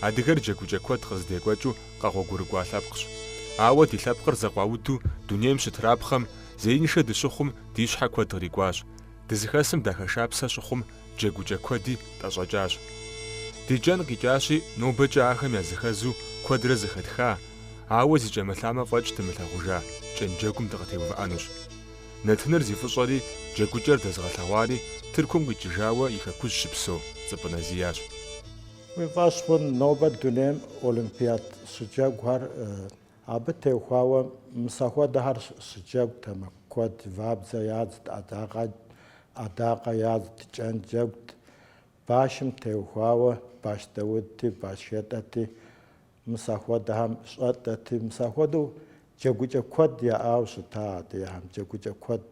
Адыгэр джэгукӏэ куэд къыздекӏуэкӏыу къэгъуэгурыкӏуа лъэпкъщ. Ауэ ди лъэпкъыр зэкъуауду дунейм щытрапхъэм, зеиншэ дыщыхъум, ди щхьэ куэд кърикӏуащ. Дызыхэсым дахэшапсэ щыхъум джэгукӏэ куэди тӏэщӏэкӏащ. Ди кӏэн къикӏащи, нобэкӏэ ахэм языхэзу куэдрэ зэхэтха, ауэ зи кӏэмылъамэ фӏэкӏ дымылъагъужа кӏэнджэгум дыкъытеувыӏэнущ. Нэтыныр зи фӏыщӏэри джэгукӏэр дэзыгъэлъэгъуари Тыркум къикӏыжауэ и хэкужь щыпсэу Цӏыпӏынэ Зиящ. Уи фӏэщ хъун нобэ дунейм олимпиад щыджэгухэр Абы теухуауэ мысэ хуэдэхэр щыджэгутэмэ куэд, вабдзэ ядзт, ӏэдакъэ, ӏэдакъэ ядзт, кӏэн джэгут. Башым теухуауэ баш дэудти, баш хэтӏэти мысэ хуэдэхэм щӏэтӏэти, мысэ хуэдэу джэгукӏэ куэд яӏауэ щыта адыгэхэм, джэгукӏэ куэд.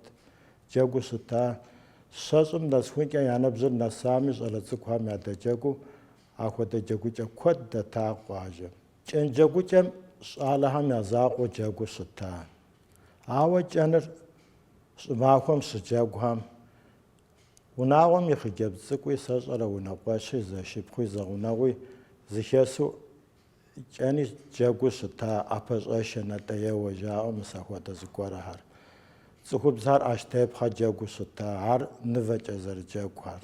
Джэгуу щыта щэщӏым нэсхункӏэ я ныбжьыр нэсами, щӏалэ цӏыкӏухэм ядэджэгуу ахуэдэ джэгукӏэ куэд дэта къуажэм. Кӏэнджэгукӏэм щӏалэхэм я закъуэу джэгуу щыта. Ауэ кӏэныр щӏымахуэм щыджэгухэм, унагъуэм и хъыджэбз цӏыкӏуи сэ сщӏэрэ унэкъуэщи зэшыпхъуи зэгъунэгъуи зыхесу кӏэни джэгуу щыта ӏэпэщӏэшэ натӏэеуэ жаӏэу мысэ хуэдэ зыгуэрхэр. Цӏыхубзхэр ӏэщтепхъэ джэгуу щыта, ар нывэкӏэ зэрыджэгухэр.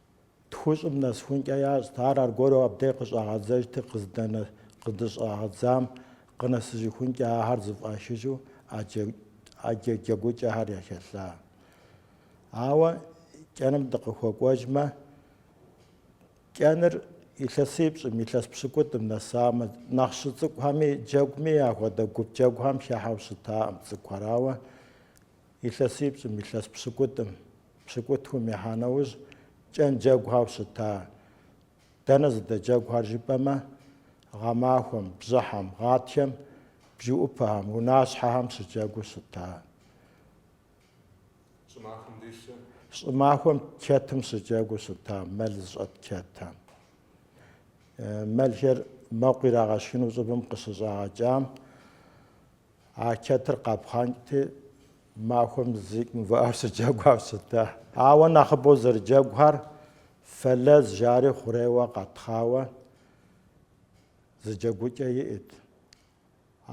Тхущӏым нэсхункӏэ ящӏт, ар аргуэру абдей къыщӏагъэдзэжти, къыздыщӏагъэдзам къынэсыжыхункӏэ ахэр зыфӏахыжу ӏэджэ джэгукӏэхэр яхэлъа. Ауэ кӏэным дыкъыхуэкӏуэжмэ, кӏэныр илъэсипщӏым, илъэс пщыкӏутӏым нэсамэ, нэхъ щыцӏыкӏухэми джэгуми ахуэдэ гуп джэгухэм хехьэу щытаӏым цӏыкӏухэр, ауэ илъэсипщӏым, илъэс пщыкӏутӏым Пщыкӏутхум ехьа нэужь кӏэн джэгухэу щыта. Дэнэ зыдэджэгухэр жыпӏэмэ, гъэмахуэм, бжьыхьэм, гъатхэм, бжэӏупэхэм, унащхьэхэм щыджэгуу щыта. Щӏымахуэм чэтым щыджэгуу щыта, мэл зыщӏэт чэтым. Мэлхэр мэкъу ирагъэшхыну щӏыбым къыщыщӏагъэкӏам А чэтыр къапхъанкӏти, махуэм зэи мыувыӏэу щыджэгуауэ щыта. Ауэ нэхъыбэу зэрыджэгухэр Фэлэз жари хъурейуэ къэтхъауэ зы джэгукӏэ иӏэт.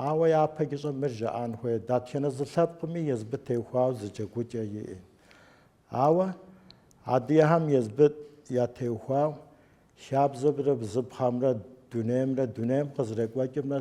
Ауэ япэкӏыщӏэ мыр жаӏэн хуейт, дэтхэнэ зы лъэпкъми езыбы теухуауэ зы джэгукӏэ иӏэт. Ауэ адыгэхэм езыбы ятеухуау хабзэмрэ бзыпхъэмрэ дунеймрэ дунейм къызэрекӏуэкӏымрэ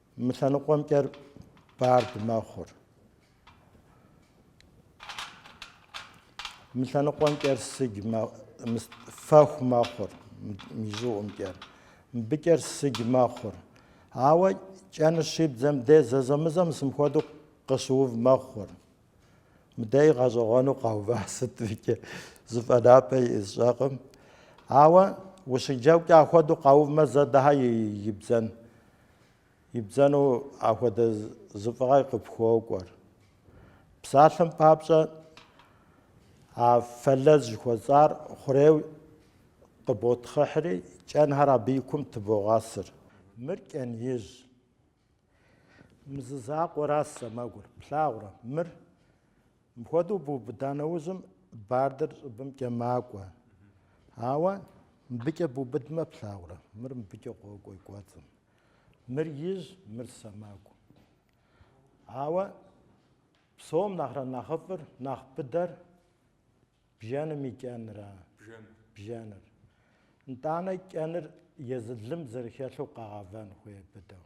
Мы лъэныкъуэмкӏэр бард мэхъур. Мы лъэныкъуэмкӏэр сыдж фэху мэхъур мы и щӏыӏумкӏэр. Мыбыкӏэр сыдж мэхъур. Ауэ кӏэныр щибдзэм де зэзэмызэм мысым хуэдэу къыщыув мэхъур. Мыдей гъэщӏэгъуэну къэува сыт икӏи зы фӏэнапӏэ сщӏэкъым. Ауэ ущыджэгукӏэ ахуэдэу къэувмэ зэ дыхьэ ибдзэн. Ибдзэну ахуэдэ зы фӏыгъэ къыпхуокӏуэр. Псалъэм папщӏэ, а фэлэз жыхуэсӏар хъурейуэ къыботхъыхьри, кӏэнхэр абы и кум тыбогъэсыр. Мыр кӏэн ижь. Мы зы закъуэращ сэмэгур. Плъагъурэ, мыр Мыхуэдэу бубыда нэужьым бардэр щӏыбымкӏэ макӏуэ. Ауэ мыбыкӏэ бубыдмэ плъагъурэ, мыр мыбыкӏэ къокӏуэ и кӏуэцӏым. Мыр ижь, мыр сэмэгу. Ауэ псом нэхърэ нэхъыфӏыр, нэхъ быдэр бжэным и кӏэнра, бжэныр. Нтӏанэ кӏэныр езы лым зэрыхэлъу къэгъэвэн хуей быдэу.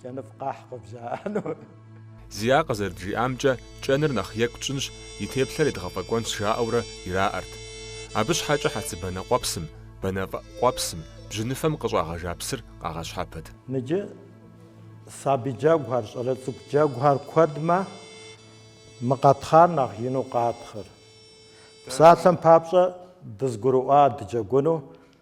Кӏэныфӏ къахь къыбжаӏэну. Зиа къызэрыджиӏамкӏэ, кӏэныр нэхъ екӏу тщӏынщ, и теплъэр едгъэфӏэкӏуэнщ жаӏэурэ ираӏэрт. Абы щхьэкӏэ хьэцыбанэ къуэпсым, банэфӏ къуэпсым, бжьыныфэм къыщӏагъэжа псыр къагъэщхьэпэт. Ныджы сабий джэгухэр, щӏалэ цӏыкӏу джэгухэр куэдмэ, мы къэтхъар нэхъ ину къатхъыр. Псалъэм папщӏэ, дызгурыӏуа дыджэгуну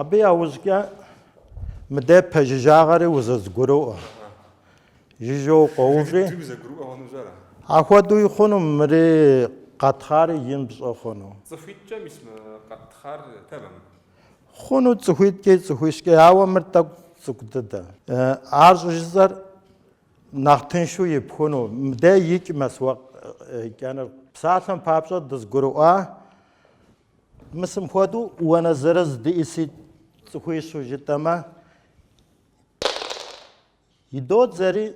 Абы яужькӏэ мыдэ пэжыжьагъэри узэзгурыӏуэ. Жыжьэу къоуври. Ахуэдэуи хъуну мыри къэтхъари ин пщӏэ хъуну. Цӏыхуитӏкӏэ мис мы къэтхъар тэмэм. Хъуну цӏыхуитӏкӏи цӏыхуищкӏи, ауэ мыр тӏэкӏу цӏыкӏу дыдэ. Ар щӏыжысӏэр Нэхъ тыншу ипхуну, мыдэ икӏмэ сыуэкӏэныр. Псалъэм папщӏэ дызгурыӏуа мысым хуэдэу уанэ зырыз диӏэси цӏыхуищу жытӏэмэ, идодзэри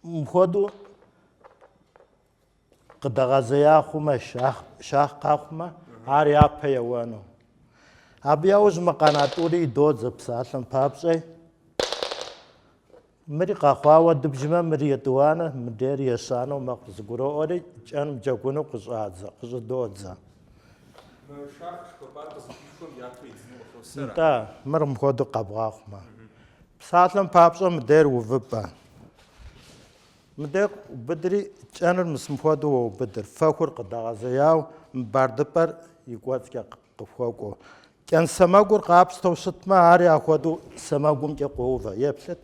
мыхуэдэу къыдэгъэзея хъумэ, щахъ къэхъумэ, ар япэ еуэну. Абы яужь мы къэна тӏури идодзэ псалъэм папщӏэ. Мыри къэхъуауэ дыбжмэ, мыри етӏуанэ, мыдейр ещанэу мэхъу зыгуроӏуэри, кӏэным джэгуну къыщӏадзэ, къыщӏыдодзэ. Нтӏэ, мыр мыхуэдэу къэбгъэхъумэ. Псалъэм папщӏэ мыдейр увыпӏэ. Мыдэ убыдри, кӏэныр мысым хуэдэу уэ убыдыр, фэхур къыдэгъэзеяуэ мы бардыпӏэр и кӏуэцӏкӏэ къыхуэкӏуэу. Кӏэн сэмэгур къапщтэу щытмэ, ари ахуэдэу сэмэгумкӏэ къоувэ, еплъыт.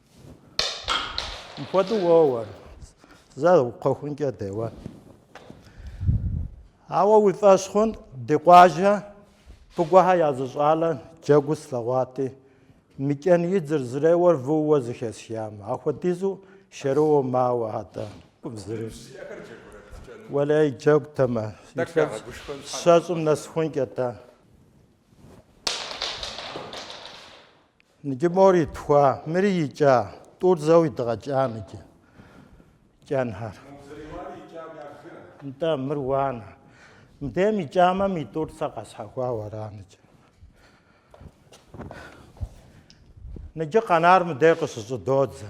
Мыхуэдэу уоуэр. Зэ кхъуэхункӏэ деуэ. Ауэ уи фӏэщ хъун ди къуажэ Пыгуэхьэ я зы щӏалэ джэгуу слъэгъуати, мы кӏэн идзыр зэреуэр вууэ зыхэсхамэ. Ахуэдизу шэрыуэу мауэ атӏэ. Зыри. Уэлей джэгутэмэ. Щэщӏым нэсхункӏэ тӏэ. Ныджы мор итхуа, мыри икӏа, тӏур зэу идгъэкӏа ныджы. Кӏэнхэр. Нтӏэ, мыр уанэ. Мыдейм икӏамэ, ми тӏур сэ къэсхьэхуауэ ара ныджы. Ныджы къэнар мыдей къыщыщӏыдодзэ.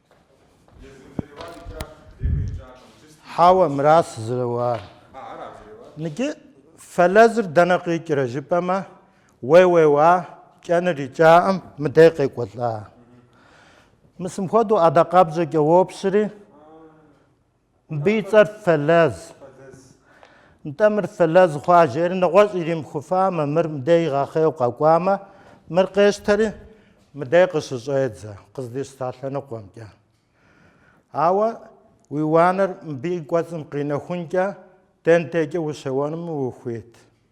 Хьэуэ, мыращ зэрыуар. Ныджы, фэлэзыр дэнэ къикӏрэ жыпӏэмэ, уэ уеуа, кӏэныр икӏаӏым, мыдей къекӏуэлӏа. Мысым хуэдэу ӏэдакъэбжьэкӏэ уопщри. Мыбы и цӏэр фэлэз. Нтӏэ мыр фэлэз хъуа жери нэгъуэщӏ иримыхуфамэ, мыр мыдей игъэхъейуэ къэкӏуамэ, мыр къещтэри мыдэ къыщыщӏедзэ, къыздищта лъэныкъуэмкӏэ. Ауэ уи уанэр мыбы и кӏуэцӏым къинэхункӏэ, дэндейкӏэ ущеуэнми ухуит.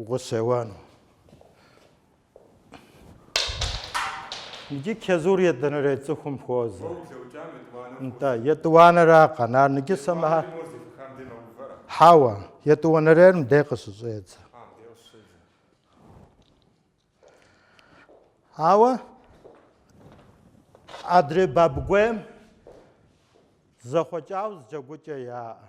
Укъыщеуэну. Ныджы чэзур етӏуанэрей цӏыхум хуозэ. Нтӏэ, етӏуанэра къэнар, ныджы сэ мыхьэ. Хьэуэ, етӏуанэрейр мыдей къыщыщӏедзэ. Ауэ адрей Бабыгуейм зэхъуэкӏауэ зы джэгукӏэ яӏэ.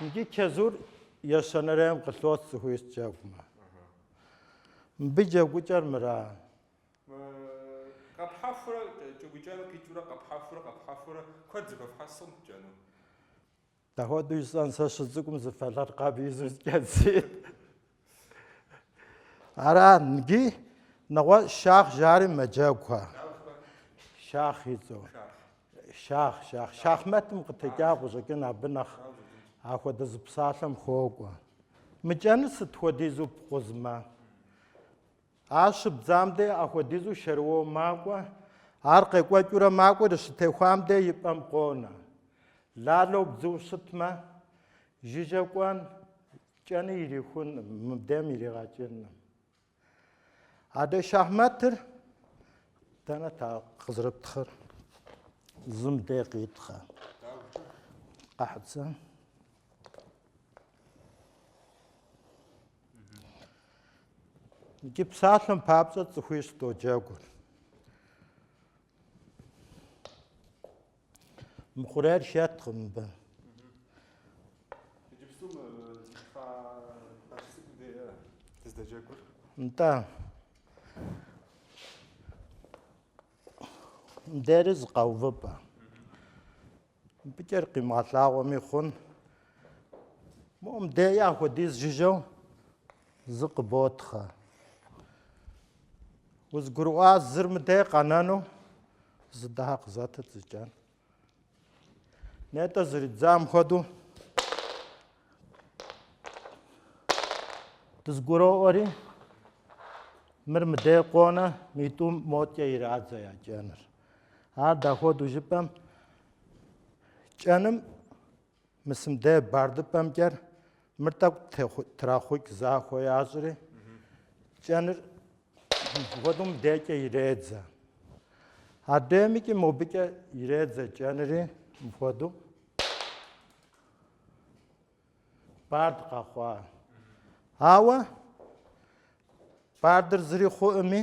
Ныджы чэзур ещанэрейм къылъос цӏыхуищ джэгумэ. Мыбы и джэгукӏэр мыра? Къэпхьэхурэ кӏэгукӏэну къикӏыурэ къэпхьэхурэ къэпхьэхурэ куэд зыхуэпхьэсу къым пкӏэну. Дэхуэдэу жысӏэн сэ сыщыцӏыкӏум зы фэлъыркъэб изу зкӏэдзи. Ара нги нэгъуэщӏ шах жари мэджэгухэ. Шах и цӏэу. Шах, шах. Шахмэтым къытекӏа къыщӏэкӏын абы нэхъ ахуэдэ зы псалъэм хуокӏуэ. Мы кӏэныр сыт хуэдизу пкъузмэ? Ар щыбдзам де ахуэдизу шэрыуэу макӏуэ, ар къекӏуэкӏыурэ макӏуэри щытехуам де и пӏэм къонэ. Лалэу бдзыу щытмэ, жыжьэ кӏуэн, Кӏэни ирихунӏым, мыбдем иригъэкӏынӏым. Адэ шахматыр дэнэ та къызрыптхъыр? Зы мыдей къитхъэ. Къахьцэ. Иджы псалъэм папщӏэ цӏыхуищ доджэгур. Мы хъуреир хэткъым мыбы. Иджыпсту мы фа фащ цӏыкӏу дея дыздэджэгур? Нтӏэ. Мдери зы къэувыпӏэ. Мы пӏыкӏэр къимыгъэлъагъуэми хъун. Моу мдея хуэдиз жыжьэу Зы къыботхъэ. Узгурыӏуа зыр мыдей къэнэну? Зы дахэ къызэтыт зы кӏэн. Нетӏэ зэридзам хуэдэу дызгуроӏуэри мыр мыдей къонэ митӏу модкӏэ ирадзэ я кӏэныр. Ар дахуэдэу жыпӏэм кӏэным Мис мыдей бардыпӏэмкӏэ мыр тӏэкӏу трахъукӏ захуэ ящӏри, кӏэныр мыпхуэдэу мыбдейкӏэ иредзэ. Адеймикӏи мобыкӏэ иредзэ кӏэнри мыпхуэдэу бард къэхъуа. Ауэ бардыр зыри хъуӏыми,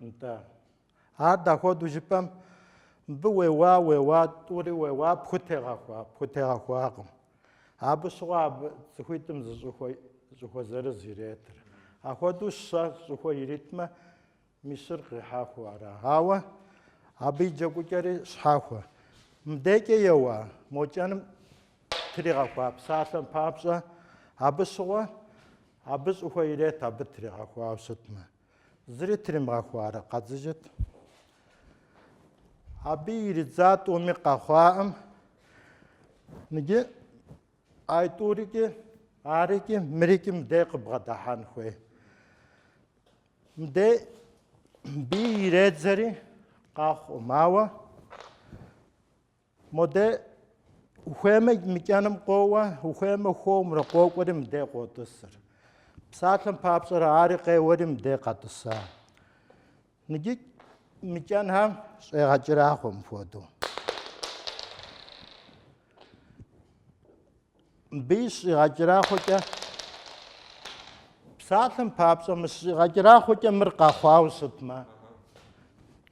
Нтӏэ. Ар дахуэду жыпӏэм, мыбы уеуа, уеуа, тӏури уеуа, пхутегъэхуа, пхутегъэхуакъым. Абы щыгъуэ абы цӏыхуитӏым зы щӏыхуэ, щӏыхуэ зырыз иретыр. Ахуэду щэ щӏыхуэ иритмэ, мисыр къихьэхуэу ара. Ауэ абы и джэгукӏэри щхьэхуэ. Мыбдекӏэ еуа, мо кӏэным тригъэхуа псалъэм папщӏэ, абы щыгъуэ Абы щӏыхуэ ирет абы тригъэхуауэ щытмэ. Зыри тримыгъэхуарэ къэдзыжыт. Абы иридза тӏуми къэхъуаӏым. Ныджы ай тӏурикӏи, арикӏи, мырикӏи мыдей къыбгъэдыхьэн хуей. Мыдей аби иредзэри къэхъуӏым, ауэ Моде, ухуеймэ мы кӏэным къоуэ, ухуеймэ хуэмурэ къокӏуэри мыдей къотӏысыр. Псалъэм папщӏэрэ ари къеуэри мыдей къэтӏыса. Ныджы мы кӏэнхэм щӏегъэкӏэрахъуэ мыпхуэдэу. Мыбы щыщӏигъэкӏэрахъуэкӏэ псалъэм папщӏэ мы щыщӏигъэкӏэрахъуэкӏэ мыр къэхъуауэ щытмэ,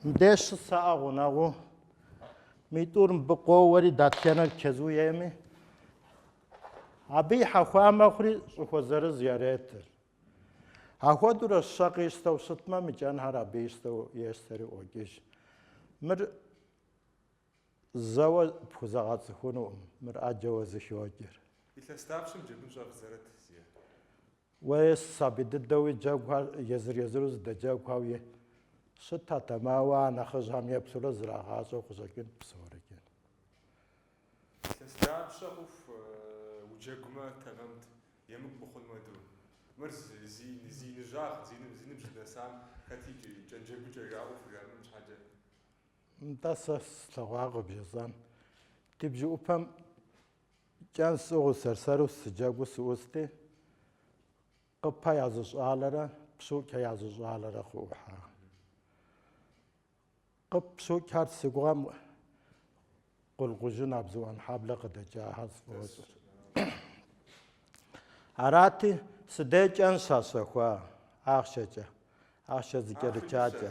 мдеж щысаӏэ гъунэгъуу, митӏур мыбы къоуэри датхэнэр чэзу ейми, абы и хьэхуа мэхъури щӏыхуэ зырыз яретыр. Ахуэдурэ щэ къищтэу щытмэ, мы кӏэнхэр абы ищтэу ещтэри ӏуокӏыж. Мыр Зэуэ пхузэгъэцӏыхунукъым мыр ӏэджэуэ зыхокӏыр. Илъэс дапщэм джэгун щӏэвдзэрэт зиӏэ? Уей, сабий дыдэуи джэгухэр езыр-езыру зыдэджэгухэуи щытатэм, ауэ а нэхъыжьхэм еплъурэ зрагъащӏэу къыщӏэкӏынт псорикӏ. Илъэс дапщэ хъуху уджэгумэ тэмэмт, емыкӏу мыхъун хуэдэу. Мыр зи иныжьагъ, зи ныбжь дынэсам хэти кӏэнджэгукӏэ жаӏэу хужамыӏэн щхьэкӏэ. Нтӏэ, сэ слъэгъуа къыбжесӏэн. Ди бжэӏупэм кӏэн сӏыгъыу сэр-сэру сыджэгуу сыӏусти, Къыпэ я зы щӏалэрэ Пщукӏэ я зы щӏалэрэ къыӏухьа. Къып Пщукӏэр си гугъэм Къулъкъужын Абзыӏуэнхьэблэ къыдэкӏахэр сфӏощӏыр. Арати, сыдей кӏэн щащэхуа ахъшэкӏэ, ахъшэ зыкӏэрычакӏэ.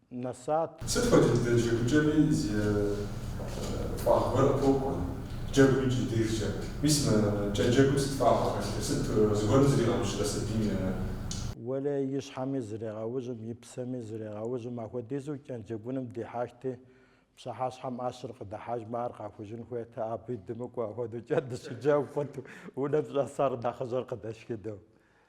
нэсат. Сыт хуэдэ дыдэ джэгукӏэми зы фӏагъ гуэр къыпокӏуэ, джэгум икӏ и дежкӏэ. Мис мы кӏэнджэгум сыт фӏагъ хэлъыр, сыт зыгуэрым зригъэужьрэ сабийм? Уэлэ и щхьэми зрегъэужьым, и псэми зрегъэужьым, ахуэдизу кӏэнджэгуным дихьэхти, пщыхьэщхьэм ӏэщыр къыдыхьэжмэ, ар къахужын хуейт, абы дымыкӏуэу, ахуэдэу кӏэн дыщыджэгу хъурт, унэм щӏэсар нэхъыжьыр къыдэшхыдэу.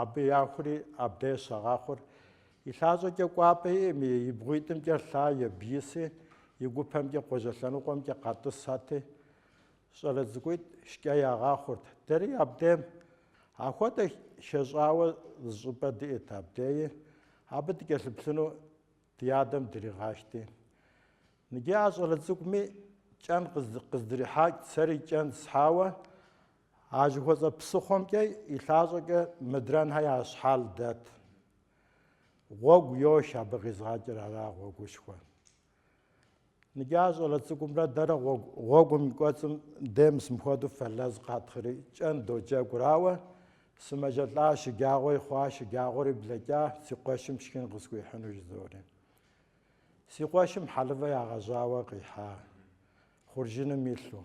Абы яхури абдей щагъэхъур. И лъащӏэкӏэ кӏуапӏэ иӏэми, и бгъуитӏымкӏэ лъа ебиси, и гупэмкӏэ къуажэ лъэныкъуэмкӏэ къэтӏысати, щӏалэ цӏыкӏуитӏ шкӏэ ягъэхъурт. Дэри абдейм ахуэдэ хэщӏауэ зы щӏыпӏэ диӏэт абдеи, абы дыкӏэлъыплъыну ди адэм дригъащти. Ныджы а щӏалэ цӏыкӏуми кӏэн къыздрихьэкӏт, сэри кӏэн схьауэ, А жыхуэсӏэ псыхъуэмкӏэ и лъащӏэкӏэ мыдрэнхэ я щхьэл дэт. Гъуэгу йох абы къизгъэкӏыр ара гъуэгушхуэ. Ныджы а щӏалэ цӏыкӏумрэ дэрэ гъуэгум и кӏуэцӏым дей мыс мыхуэдэу фэлэз къэттхъри кӏэн доджэгур, ауэ сымэжэлӏа шыджагъуэи хъуа шыджагъуэри блэкӏа си къуэшым шхын къысхуихьыну жызори. Си къуэшым хьэлывэ ягъэжьауэ къихьа, хъуржыным илъу.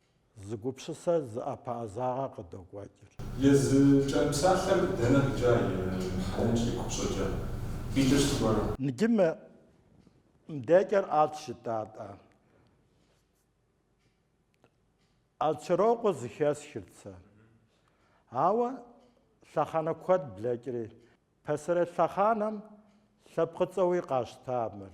Зы гупщысэ зы ӏэпэӏэзагъэ къыдокӏуэкӏыр. Езы кӏэн псалъэр дэнэ къикӏа и хьэлэм щӏи купщӏэкӏэ къикӏыр зыгуэрэ? Ныджы мы мыдекӏэр ӏэлъ жытӏа тӏэ. Ӏэлъчэрокъуэ зыхэсхырт сэ. Ауэ лъэхъэнэ куэд блэкӏри, пасэрей лъэхъанэм лъэпкъыцӏэуи къащта мыр.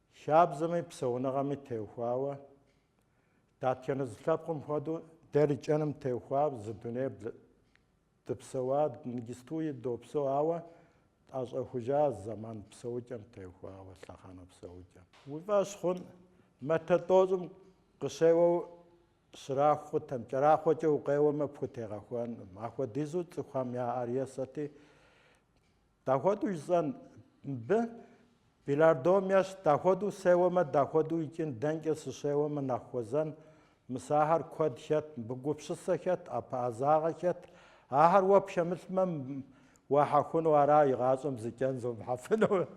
Хабзэми псэуныгъэми теухуауэ, датхэнэ зы лъэпкъым хуэдэу, дэри кӏэным теухуауэ зы дуней дыпсэуа ныджыстуи допсэу, ауэ тӏэщӏэхужа зэман псэукӏэм теухуауэ, лъэхъэнэ псэукӏэм. Уи фӏэщ хъун, метрэ тӏощӏым къыщеуэу щраху хъутэм, кӏэрахъуэкӏэ укъеуэмэ пхутегъэхуэнкъым, ахуэдизу цӏыхухэм я ӏэр есати, Дахуэду жысӏэн, мыбы? Белардом ещхь, дахуэду сеуэмэ, дахуэду икӏын, дэнкӏэ сыщеуэмэ нэхъ хуэзэн, мыс ахэр куэд хэт, мыбы гупщысэ хэт, ӏэпэӏэзагъэ хэт, ахэр уэ пхэмылъмэ, уахьэхуну ара игъащӏэм зы кӏэн зомыхьэфыну?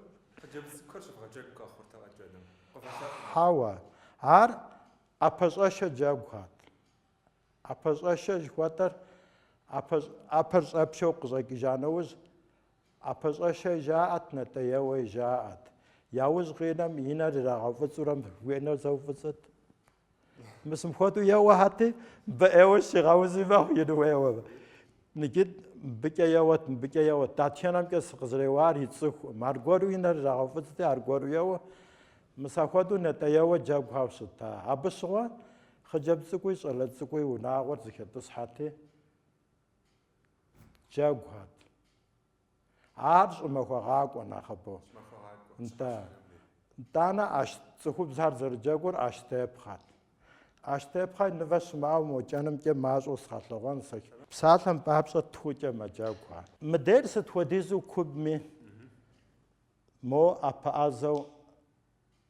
Хъыджэбз цӏыкӏухэр щыбгъэджэгу къэхъуртэ кӏэным. Къывэлъэӏумэ. Хьэуэ, ар ӏэпэщӏэшэ джэгухэт. ӏэпэщӏэшэ жыхуэтӏэр ӏэпэр щӏэпшэу къыщӏэкӏыжа нэужь, ӏэпэщӏэшэ жаӏэт, натӏэеуэ жаӏэт. Яужь къинэм и нэр ирагъэуфӏыцӏурэ моуэ и нэр зэуфӏыцӏэт. Мыс мыхуэдэу еуэхьэти, абы ӏейуэ щигъэузи мэхъу ину еуэ. Ныджы мыбыкӏэ еуэт, мыбыкӏэ еуэт. Датхэнэмкӏэ сыкъызэреуар ицӏыхукъым. Аргуэру и нэр ирагъэуфӏыцӏти, аргуэру еуэ. Мыс ахуэдэу натӏэеуэ джэгухэу щыта. Абы щыгъуэ Хъыджэбз цӏыкӏуи щӏалэ цӏыкӏуи унагъуэр зэхэтӏысхьэти, джэгухэт. Ар щӏымахуэгъакӏуэ нэхъыбэу. Нтӏэ. Нтӏанэ ӏэщ цӏыхубзхэр зэрыджэгур ӏэщтепхъэт. ӏэщтепхъэ и нывэ щымыӏэу мо кӏэнымкӏэ мащӏэу сгъэлъэгъуэн сэ. Псалъэм папщӏэ тхукӏэ мэджэгухэ. Мыдейр сыт хуэдизу кубми, мо ӏэпэӏэзэу.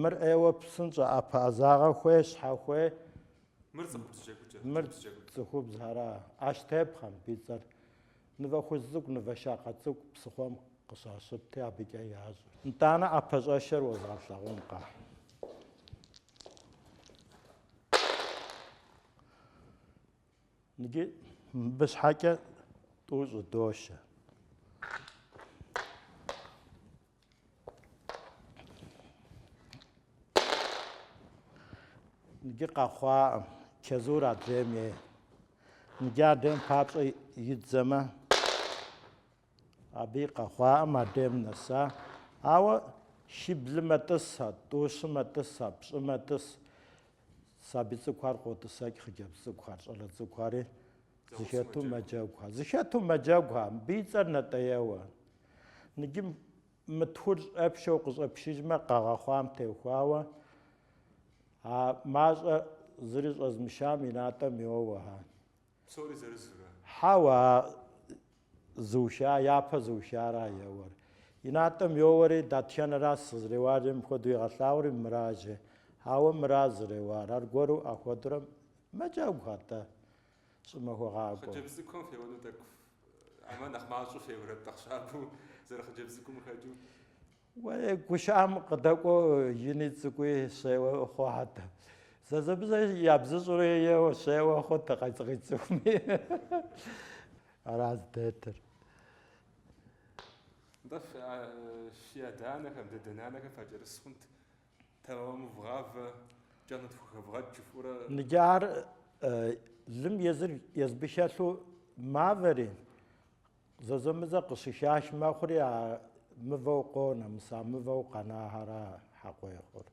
Мыр ӏейуэ псынщӏэ ӏэпэӏэзагъэ хуей щхьэ хуей. Мыр цӏыхубз джэгукӏэ. Мыр цӏыхубз ара, ӏэщтепхъэм и цӏэр. Нывэ хужь цӏыкӏу, нывэ щакъэ цӏыкӏу псыхъуэм къыщащыпти, абыкӏэ ящӏ. Нтӏанэ ӏэпэщӏэшэр уэзгъэлъэгъункъэ? Иджы мыбы щхьэкӏэ тӏу щӏыдошэ. Иджы къэхъуаӏэм, чэзур адрейм ей. Иджы адрейм папщӏэ идзэмэ, Абы и къэхъуаӏэм адрейм нэса. Ауэ шиблымэ тӏыс, а тӏу-щымэ тӏыс, а пщӏымэ тӏыс сабий цӏыкӏухэр къотӏысэкӏ хъыджэбз цӏыкӏухэр, щӏалэ цӏыкӏухэри зыхэту мэджэгухэр. Зыхэту мэджэгухэ, мыбы и цӏэр Натӏэеуэ. Ныджы мы тхур щӏэпшэу къыщӏэпшыжмэ, къэгъэхъуам техуауэ, а мащӏэ зыри щӏэзмышам и натӏэм йоуэ. Псори зырызурэ? Хьэуэ, а зыуша, япэ зыушыара еуэр. И натӏэм йоуэри, дэтхэнэращ сызреуарэм хуэдэу игъэлъагъури мыра жи. Хьэуэ, мыра зреуар, аргуэру ахуэдурэ мэджэгухэ атӏэ, щӏымахуэгъакӏуэу. Хъыджэбз цӏыкӏухэм феуэну тӏэкӏу, ӏэмэ нэхъ мащӏэу феуэрэт, нэхъ щабэу зэрыхъыджэбз цӏыкӏум къыхэкӏыу? Уей, гушыӏэм къыдэкӏуэу ини цӏыкӏуи щеуэ хъухэт. Зэзэмызэ ябзыщӏурэ еуэ щеуэ хъут къицӏыхуми. Ара здэтыр. Нтӏэ фи адэ-анэхэм, дэдэ-нанэхэм факӏэрыс хъунт, тэмэму вгъавэ, кӏэн тхухэвгъэкӏ, жыфӏурэ. Ныджы ар лым езыр езы абы хэлъу мавэри, Зэзэмызэ къыщыхах мэхъури, а мывэу къонэ, мыс а мывэу къэнахэра хьэкъуей хъур.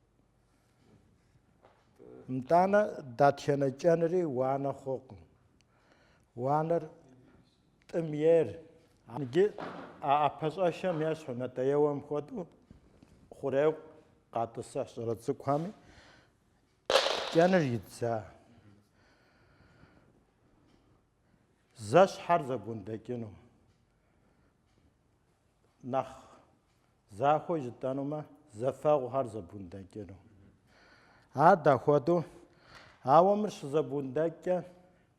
Нтӏанэ датхэнэ кӏэнри уанэ хъукъым. Уанэр тӏым ейр. Иджы а ӏэпэщӏэшэм ещхьу Натӏэеуэм хуэдэу хъурейу къатӏысыхь щӏалэ цӏыкӏухэми кӏэныр идза. зэщхьхэр зэбундэкӏыну. Нэхъ захуэу жытӏэнумэ, зэфэгъухэр зэбундэкӏыну. Ар дахуэдэу, ауэ мыр щызэбундэкӏкӏэ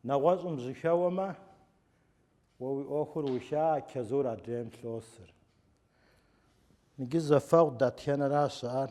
нэгъуэщӏым жьэхэуэмэ, уэ уи ӏуэхур уша чэзур адрейм лъосыр. Иджы зэфэгъу дэтхэнэра щыӏэр?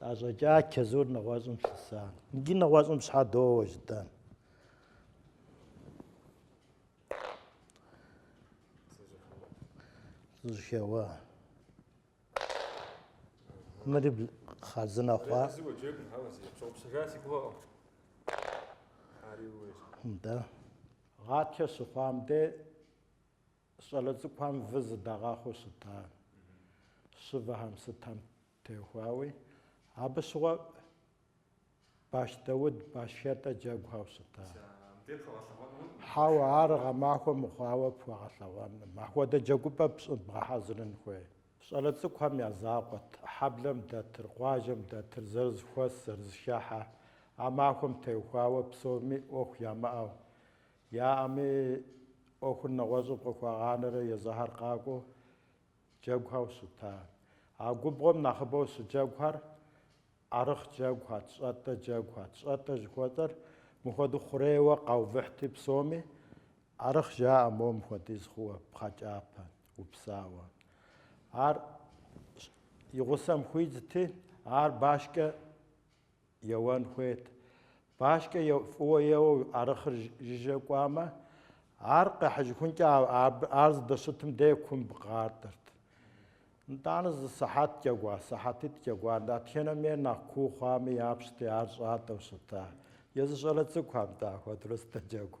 Къащӏэкӏа чэзур нэгъуэщӏым лъыса. Иджы нэгъуэщӏым щхьэ доуэ жытӏэн? Жьэхэуа. Мыри хъарзынэ хъуа. Да. Гъатхэ щыхъуам де щӏалэ цӏыкӏухэм вы зыдагъэхъуу щытащ. Щывэхэм сытам Теухуауи, абы щыгъуэ баш Дауд башхетӏэ джэгухэу щыта. Хьэуэ, ар гъэмахуэ мыхъуауэ пхуэгъэлъэгъуэным, ахуэдэ джэгупӏэ пщӏы бгъэхьэзырын хуей. Щӏалэ цӏыкӏухэм я закъуэт, хьэблэм дэтыр, къуажэм дэтыр, зэрызыхуэс, зэрызыхыхьэ, а махуэм теухуауэ псоми ӏуэху ямыӏэу, яӏэми ӏуэхур нэгъуэщӏым къыхуагъанэрэ езыхэр къакӏуэу Джэгухэу щыта. А губгъуэм нэхъыбэу щыджэгухэр ӏэрыхъ джэгухэт, щӏэтӏэ джэгухэт, щӏэтӏэ жыхуэтӏэр мыхуэдэу хъурейуэ къаувыхьти псоми ӏэрыхъ жаӏэ моуэ мыхуэдиз хъууэ пхъэкӏапэ, упсауэ. Ар и гъусэм хуидзти, ар башкӏэ еуэн хуейт. Башкӏэ е, фӏыуэ еуэу ӏэрыхъыр жыжьэ кӏуамэ, ар къехьыжыхункӏэ ар здэщытым дей кумб къатӏырт. Нтӏанэ зы сыхьэт джэгуа, сыхьэтитӏ джэгуа, дэтхэнэм ейр нэхъ куу хъуами япщти, ар щӏатӏэу щыта. Езы щӏалэ цӏыкӏу, атӏэ, ахуэдэрэ щӏэтӏэ джэгу.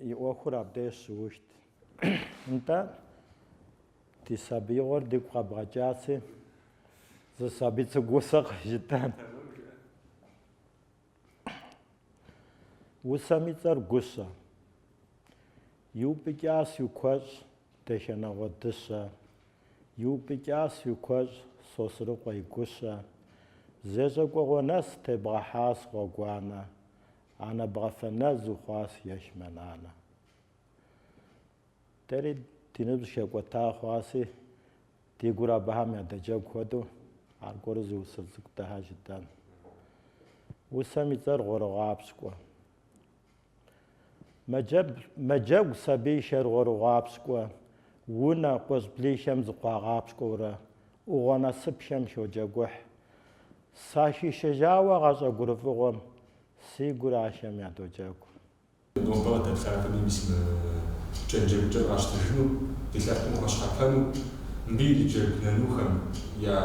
И ӏуэхур абдеж щыухт. Нтӏэ, ди сабиигъуэр дигу къэбгъэкӏаси, зы сабий цӏыкӏу усэ къыжытӏэн. Усэм и цӏэр Гущэ. Иупӏыкӏас уи куэщӏ, Дахэнагъуэ дыщэ. Иупӏыкӏас уи куэщӏ, Сосрыкъуэ и гущэ. Зещӏэ кӏуэгъуэ нэс тебгъэхьас гъуэгуанэ. Анэ бгъафэ нэс ухъуас ещмэ нанэ. Дэри ди ныбжь хэкӏуэта хъуаси, ди гур абыхэм ядэджэгу хуэдэу аргуэру зы усэ цӏыкӏу дахэ жытӏэн. Усэм и цӏэр Гъуэрыгъуапщкӏуэ. Мэджэгу сабийхэр Гъуэрыгъуапщкӏуэ, унэ къуэщӏблихэм зыкъуагъапщкӏуэурэ, ӏугъуэ насыпхэм ходжэгухь. Сахишэжауэ гъащӏэ гурыфӏыгъуэм, си гур ахэм ядоджэгу. Нобэ къыдэплъахэми мис мы кӏэн джэгукӏэр къащтыжыну, ди лъэпкъым къыхуэщхьэпэну, мыбы ириджэгу нанухэм я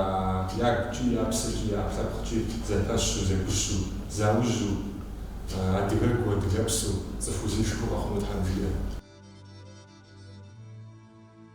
ягукӏи, я псэкӏи, я ӏэпкълъэпкъкӏи зэпэщу, зэгущу, заужьу, адыгэгу, адыгэпсу, цӏыху узыншэу къэхъуну Тхьэм жиӏэ.